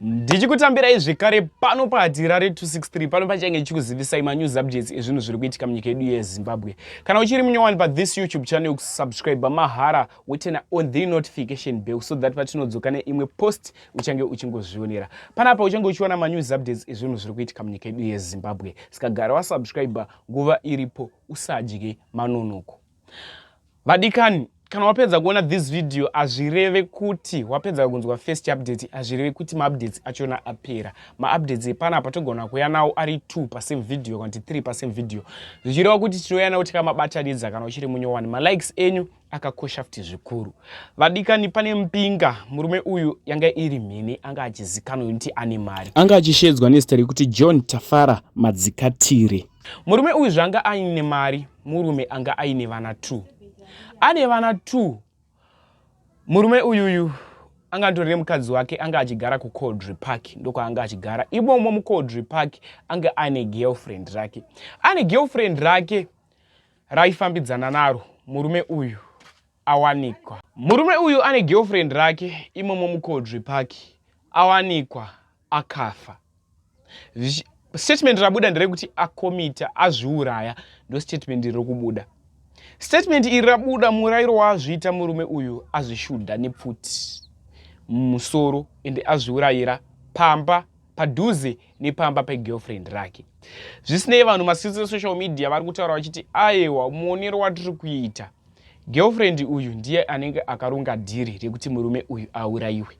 ndichikutambirai zvekare pano pahatira re 263 pano pachange ndichikuzivisai manews updates ezvinhu zviri kuitika munyika yedu yezimbabwe kana uchiri munyowani pathis youtube channel yokusubscribe mahara wotena on the notification bell so that patinodzoka neimwe post uchange uchingozvionera panapa uchange uchiona manews updates ezvinhu zviri kuitika munyika yedu yezimbabwe saka gara wasubscribe nguva iripo usadye manonoko vadikani kana wapedza kuona this video hazvireve kuti wapedza kunzwa first update hazvireve kuti maupdates achona apera maupdates epanapa togona kuya nawo ari two pasame video kana kuti three pasame video zvichireva kuti tinouya nawo tikamabatanidza kana uchiri munyowani malikes enyu akakosha futi zvikuru vadikani pane mpinga murume uyu yanga iri mhene anga achizikanwa kuti ane mari anga achishedzwa nezita rekuti john tafara madzikatire Murume uyu zvanga aine mari murume anga aine vana two ane vana two murume uyuyu anga andori nemukadzi wake anga achigara kucoldry park ndokwaanga achigara imomo mucoldry park anga ane girlfriend rake ane girlfriend rake raifambidzana naro murume uyu awanikwa. Murume uyu ane girlfriend rake imomo muKodvi Park awanikwa akafa. Zvichi, statement rabuda nderekuti akomita azviuraya ndostatement iri kubuda. Statement iri rabuda murairo waazviita murume uyu azvishudha nepfuti mumusoro ende azviurayira pamba padhuze nepamba pegirlfriend rake. Zvisinei vanhu masisosocial media vari kutaura vachiti aewa muonero watiri kuita Girlfriend uyu ndiye anenge akaronga dhiri rekuti murume uyu auraiwe.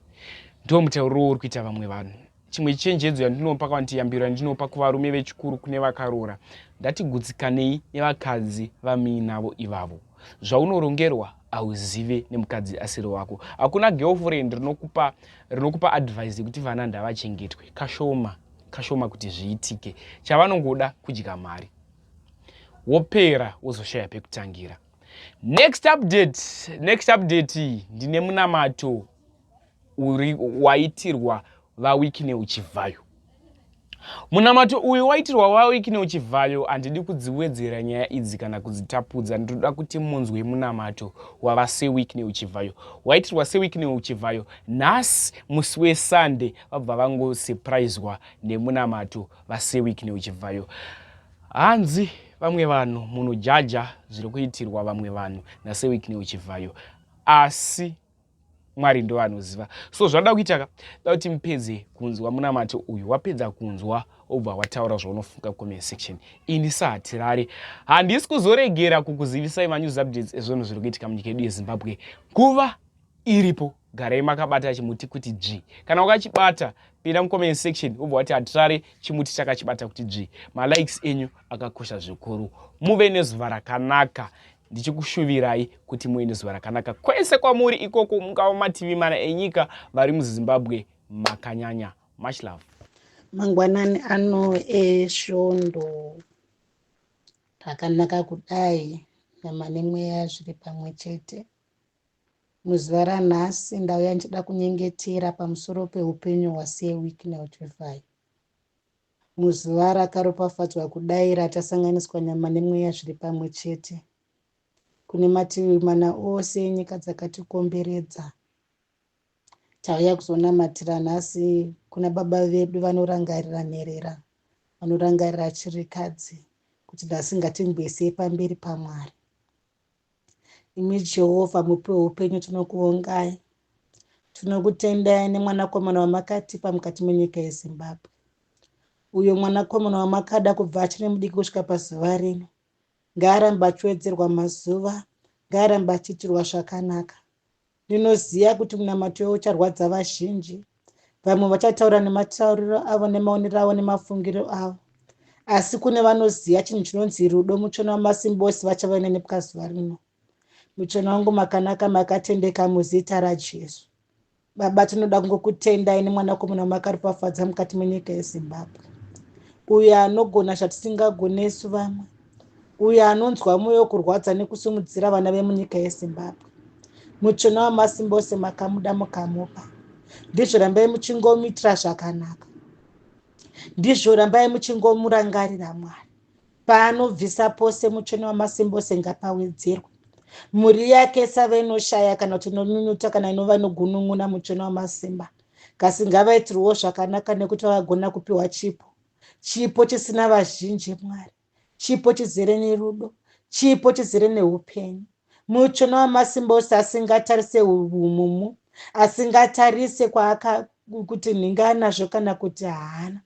Ndiwo mutauriro wouri kuita vamwe vanhu. Chimwe chenjedzo yandinopa kana kuti yambiro yandinopa kuvarume vechikuru kune vakaroora ndatigutsikanei nevakadzi vamuinavo ivavo. Zvaunorongerwa hauzive nemukadzi asiri wako. Hakuna girlfriend rinokupa, rinokupa advice yekuti vana ndavachengetwe. Kashoma, kashoma kuti zviitike. Chavanongoda kudya mari. wopera wozoshaya pekutangira next update next update ndine munamato uri waitirwa vawikine uchivhayo munamato uyu waitirwa vawikine uchivhayo handidi kudziwedzera nyaya idzi kana kudzitapudza ndinoda kuti munzwe munamato wava sewikine uchivhayo waitirwa sewikine uchivhayo nhasi musi wesunday vabva vangosurpriswa nemunamato vaseweek neuchibvayo hanzi vamwe vanhu munhu jaja zviri kuitirwa vamwe vanhu naseweek neuchibvayo asi mwari ndo vanoziva so zvada kuita ka da kuti mupedze kunzwa munamati uyu wapedza kunzwa obva wataura zvaunofunga comment section ini sahatirare handisi kuzoregera kukuzivisai manews updates ezvinhu zviri kuitika munyika yedu yezimbabwe nguva iripo garei makabata chimuti kuti dzvi kana wakachibata pinda mucomment section ubva wati hatirare chimuti chakachibata kuti dzvi malikes enyu akakosha zvikuru muve nezuva rakanaka ndichikushuvirai kuti muve nezuva rakanaka kwese kwamuri ikoko mungava mativi mana enyika vari muzimbabwe makanyanya much love mangwanani ano esvondo takanaka kudai nyama nemweya zviri pamwe chete Muzuva ranhasi ndauya ndichida kunyengetera pamusoro peupenyu hwaSir Wicknell Chivhayo. Muzuva rakaropafadzwa kudai ratasanganiswa nyama nemweya zviri pamwe chete, kune mativi mana ose enyika dzakatikomberedza, tauya kuzonamatira nhasi kuna Baba vedu vanorangarira nherera, vanorangarira chirikadzi, kuti nhasi ngatingwesei pamberi paMwari. Imi Jehovha mupi weupenyu tinokuvongai. Tinokutendai nemwanakomana wamakatipa mukati menyika yeZimbabwe. Uyo mwanakomana wamakada kubva achiri mudiki kusvika pazuva rino. Ngaarambe achiwedzerwa mazuva, ngaarambe achiitirwa zvakanaka. Ndinoziva kuti munamato uyo ucharwadza vazhinji. Vamwe vachataura nematauriro avo nemaonero avo nemafungiro avo. Asi kune vanoziva chinhu chinonzi rudo muchona wamasimba ose vachava neni pazuva rino. Muchona wangu makanaka makatendeka muzita raJesu. Baba tinoda kungokutendai nemwanakomana wamakaropafadza mukati menyika yeZimbabwe. Uyo anogona zvatisingagone isu vamwe. uyo anonzwa mwoyo kurwadza nekusimudzira vana vemunyika yezimbabwe mutsvina wamasimba ose makamuda mukamupa ndizvo rambai muchingomuitira zvakanaka ndizvo rambai muchingomurangarira mwari paanobvisa pose mutsvina wamasimba ose ngapawedzerwe mhuri yake isave inoshaya kana kuti inonyunyuta kana inova inogunun'una mutsvina wamasimba kasi ngavaitirwewo zvakanaka nekuti vavagona kupiwa chipo chipo chisina vazhinji mwari chipo chizere nerudo chipo chizere neupenyu mutsvene wamasimba ose asingatarise umumu asingatarise kwaaka kuti nhinga anazvo kana kuti haana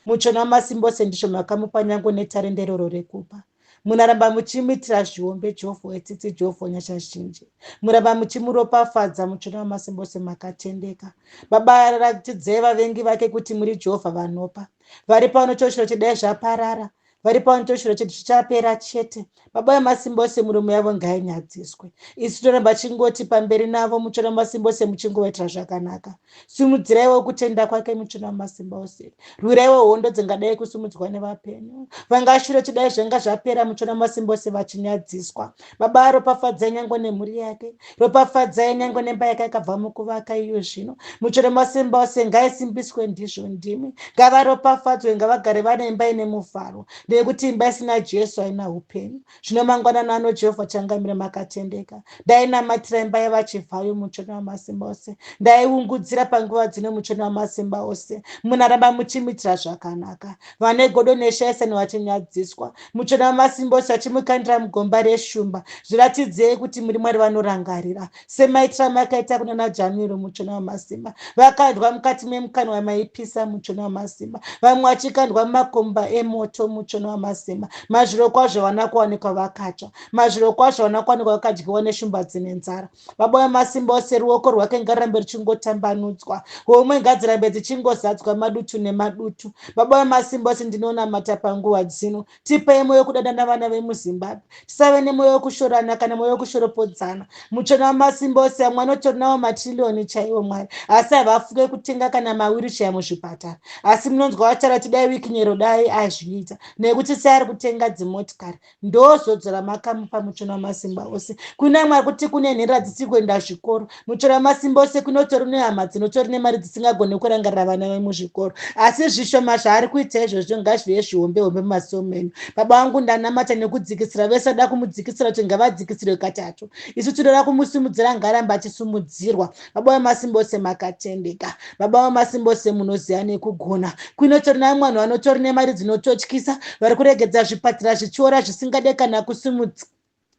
mutsvene wamasimba ose ndizvo makamupa nyange netarende iroro rekupa Munaramba muchimuitira zviombe Jofo wetsitsi Jofo nyasha zhinji Muramba muchimuropafadza mutsvene wamasimba ose makatendeka Baba ratidzei vavengi vake kuti muri Jehovha vanopa vari pano choshiro chedai zvaparara vari pano choshiro chedu chichapera chete Baba vemasimba ose muromo yavo ngainyadziswe isu toramba chingoti pamberi navo mutsvene wamasimba ose muchingovaitira zvakanaka simudziraiwo kutenda kwake muchina wamasimba ose rwiraiwo hondo dzingadai kusimudzwa nevapenyu vangashure chidai zvanga zvapera muchina wamasimba ose vachinyadziswa baba ropafadzai nyange nemhuri yake ropafadzai nyange nemba yake akabva mukuvaka iyo zvino muchina wamasimba ose ngaisimbiswe ndizvo ndimi ngavaropafadzwe ngavagare vane imba ine mufaro nekuti imba isina jesu haina upenyu zvino mangwanani ano jehovha achangamira makatendeka ndainamatira imba yevachivhayo muchoni wamasimba ose ndaiungudzira panguva dzino muchoni wamasimba ose munaramba muchimitira zvakanaka vane godo neshaisani vachinyadziswa muchoni wamasimba ose achimukandira mugomba reshumba zviratidzei kuti muri mwari vanorangarira semaitirano akaita kuna najanuary muchona wamasimba vakandwa mukati memukanwa wamaipisa muchona wamasimba vamwe vachikandwa mumakomba emoto muchona wamasimba mazviro kwazvo vana kuwanikwa vakatsva mazviro kwazvo vana kuwanikwa vakadyiwa neshumba dzine nzara baba wemasimba ose ruoko rwake ngarambe ruchingotambanudzwa homwe ngadzirambe dzichingozadzwa madutu nemadutu baba wemasimba ose ndinoona mata panguva dzino tipei mwoyo wekudadana vana vemuzimbabwe tisave nemwoyo wekushorana kana mwoyo wekushoropodzana muchona wamasimba ose amwe anotorinawo matirilioni chaiwo mwari asi havafuke kutenga kana mawirichaya muzvipatara asi munonzwa vataura tidai wikinyero dai azviita nekuti sei ari kutenga dzimotikari ndozodzora makamupa muchona wamasimba ose kuna mwari kuti kune nhera dzisiri kuenda zvikoro mutora masimba ose kunotori nehama dzinotori nemari dzisingagone kurangarira vana vemuzvikoro asi zvishoma zvaari kuita izvozvo ngazvive zvihombe hombe mumaziso menyu baba vangu ndanamata nekudzikisira vese ada kumudzikisira kuti ngavadzikisirwe katatu isu tinoda kumusimudzira ngarambe achisumudzirwa baba vemasimba ose makatendeka baba vemasimba ose munoziva nekugona kuinotori navo mwanhu vanotori nemari dzinototyisa vari kuregedza zvipatira zvichiora zvisingade kana kusimudzira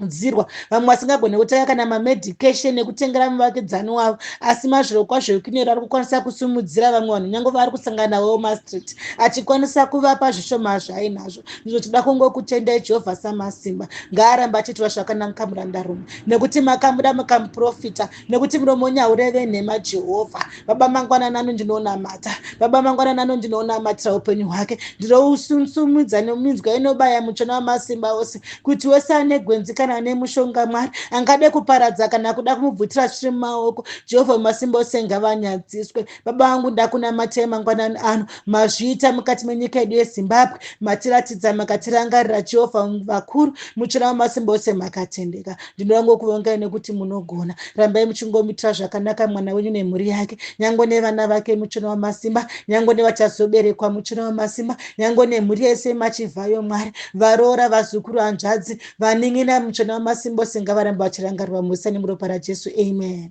kudzirwa vamwe vasingagone kutanga kana mamedication ekutengera muvakidzani wavo asi mazviro kwazvo ekunero ari kukwanisa kusimudzira vamwe vanhu nyange vaari kusangana navo wemastreet achikwanisa kuvapa zvishoma zvainazvo ndizvo tida kungokutendai jehovha samasimba ngaaramba achiitira zvakanaka murandarume nekuti makamuda mukamuprofita nekuti muromo nyaureve nhema jehovha baba mangwana nano ndinonamata baba mangwana nano ndinonamatira upenyu hwake ndirousumsumudza neminzwa inobaya muchona wamasimba ose kuti wese ane gwenzi kana ane mushonga mwari angade kuparadza kana kuda kumubvutira zviri mumaoko jehovha wemasimba ose ngavanyadziswe baba vangu ndakunamatai mangwanani ano mazviita mukati menyika yedu yezimbabwe matiratidza makatirangarira jehovha vakuru muchina wamasimba ose makatendeka ndinorango kuvongai nekuti munogona rambai muchingomitira zvakanaka mwana wenyu nemhuri yake nyange nevana vake muchina wamasimba nyange nevachazoberekwa muchina wamasimba nyange nemhuri yese machivhayo mwari varoora vazukuru hanzvadzi vanin'ina muchina wamasimba ose ngavaramba vachirangarirwa musa nemuropa rajesu amen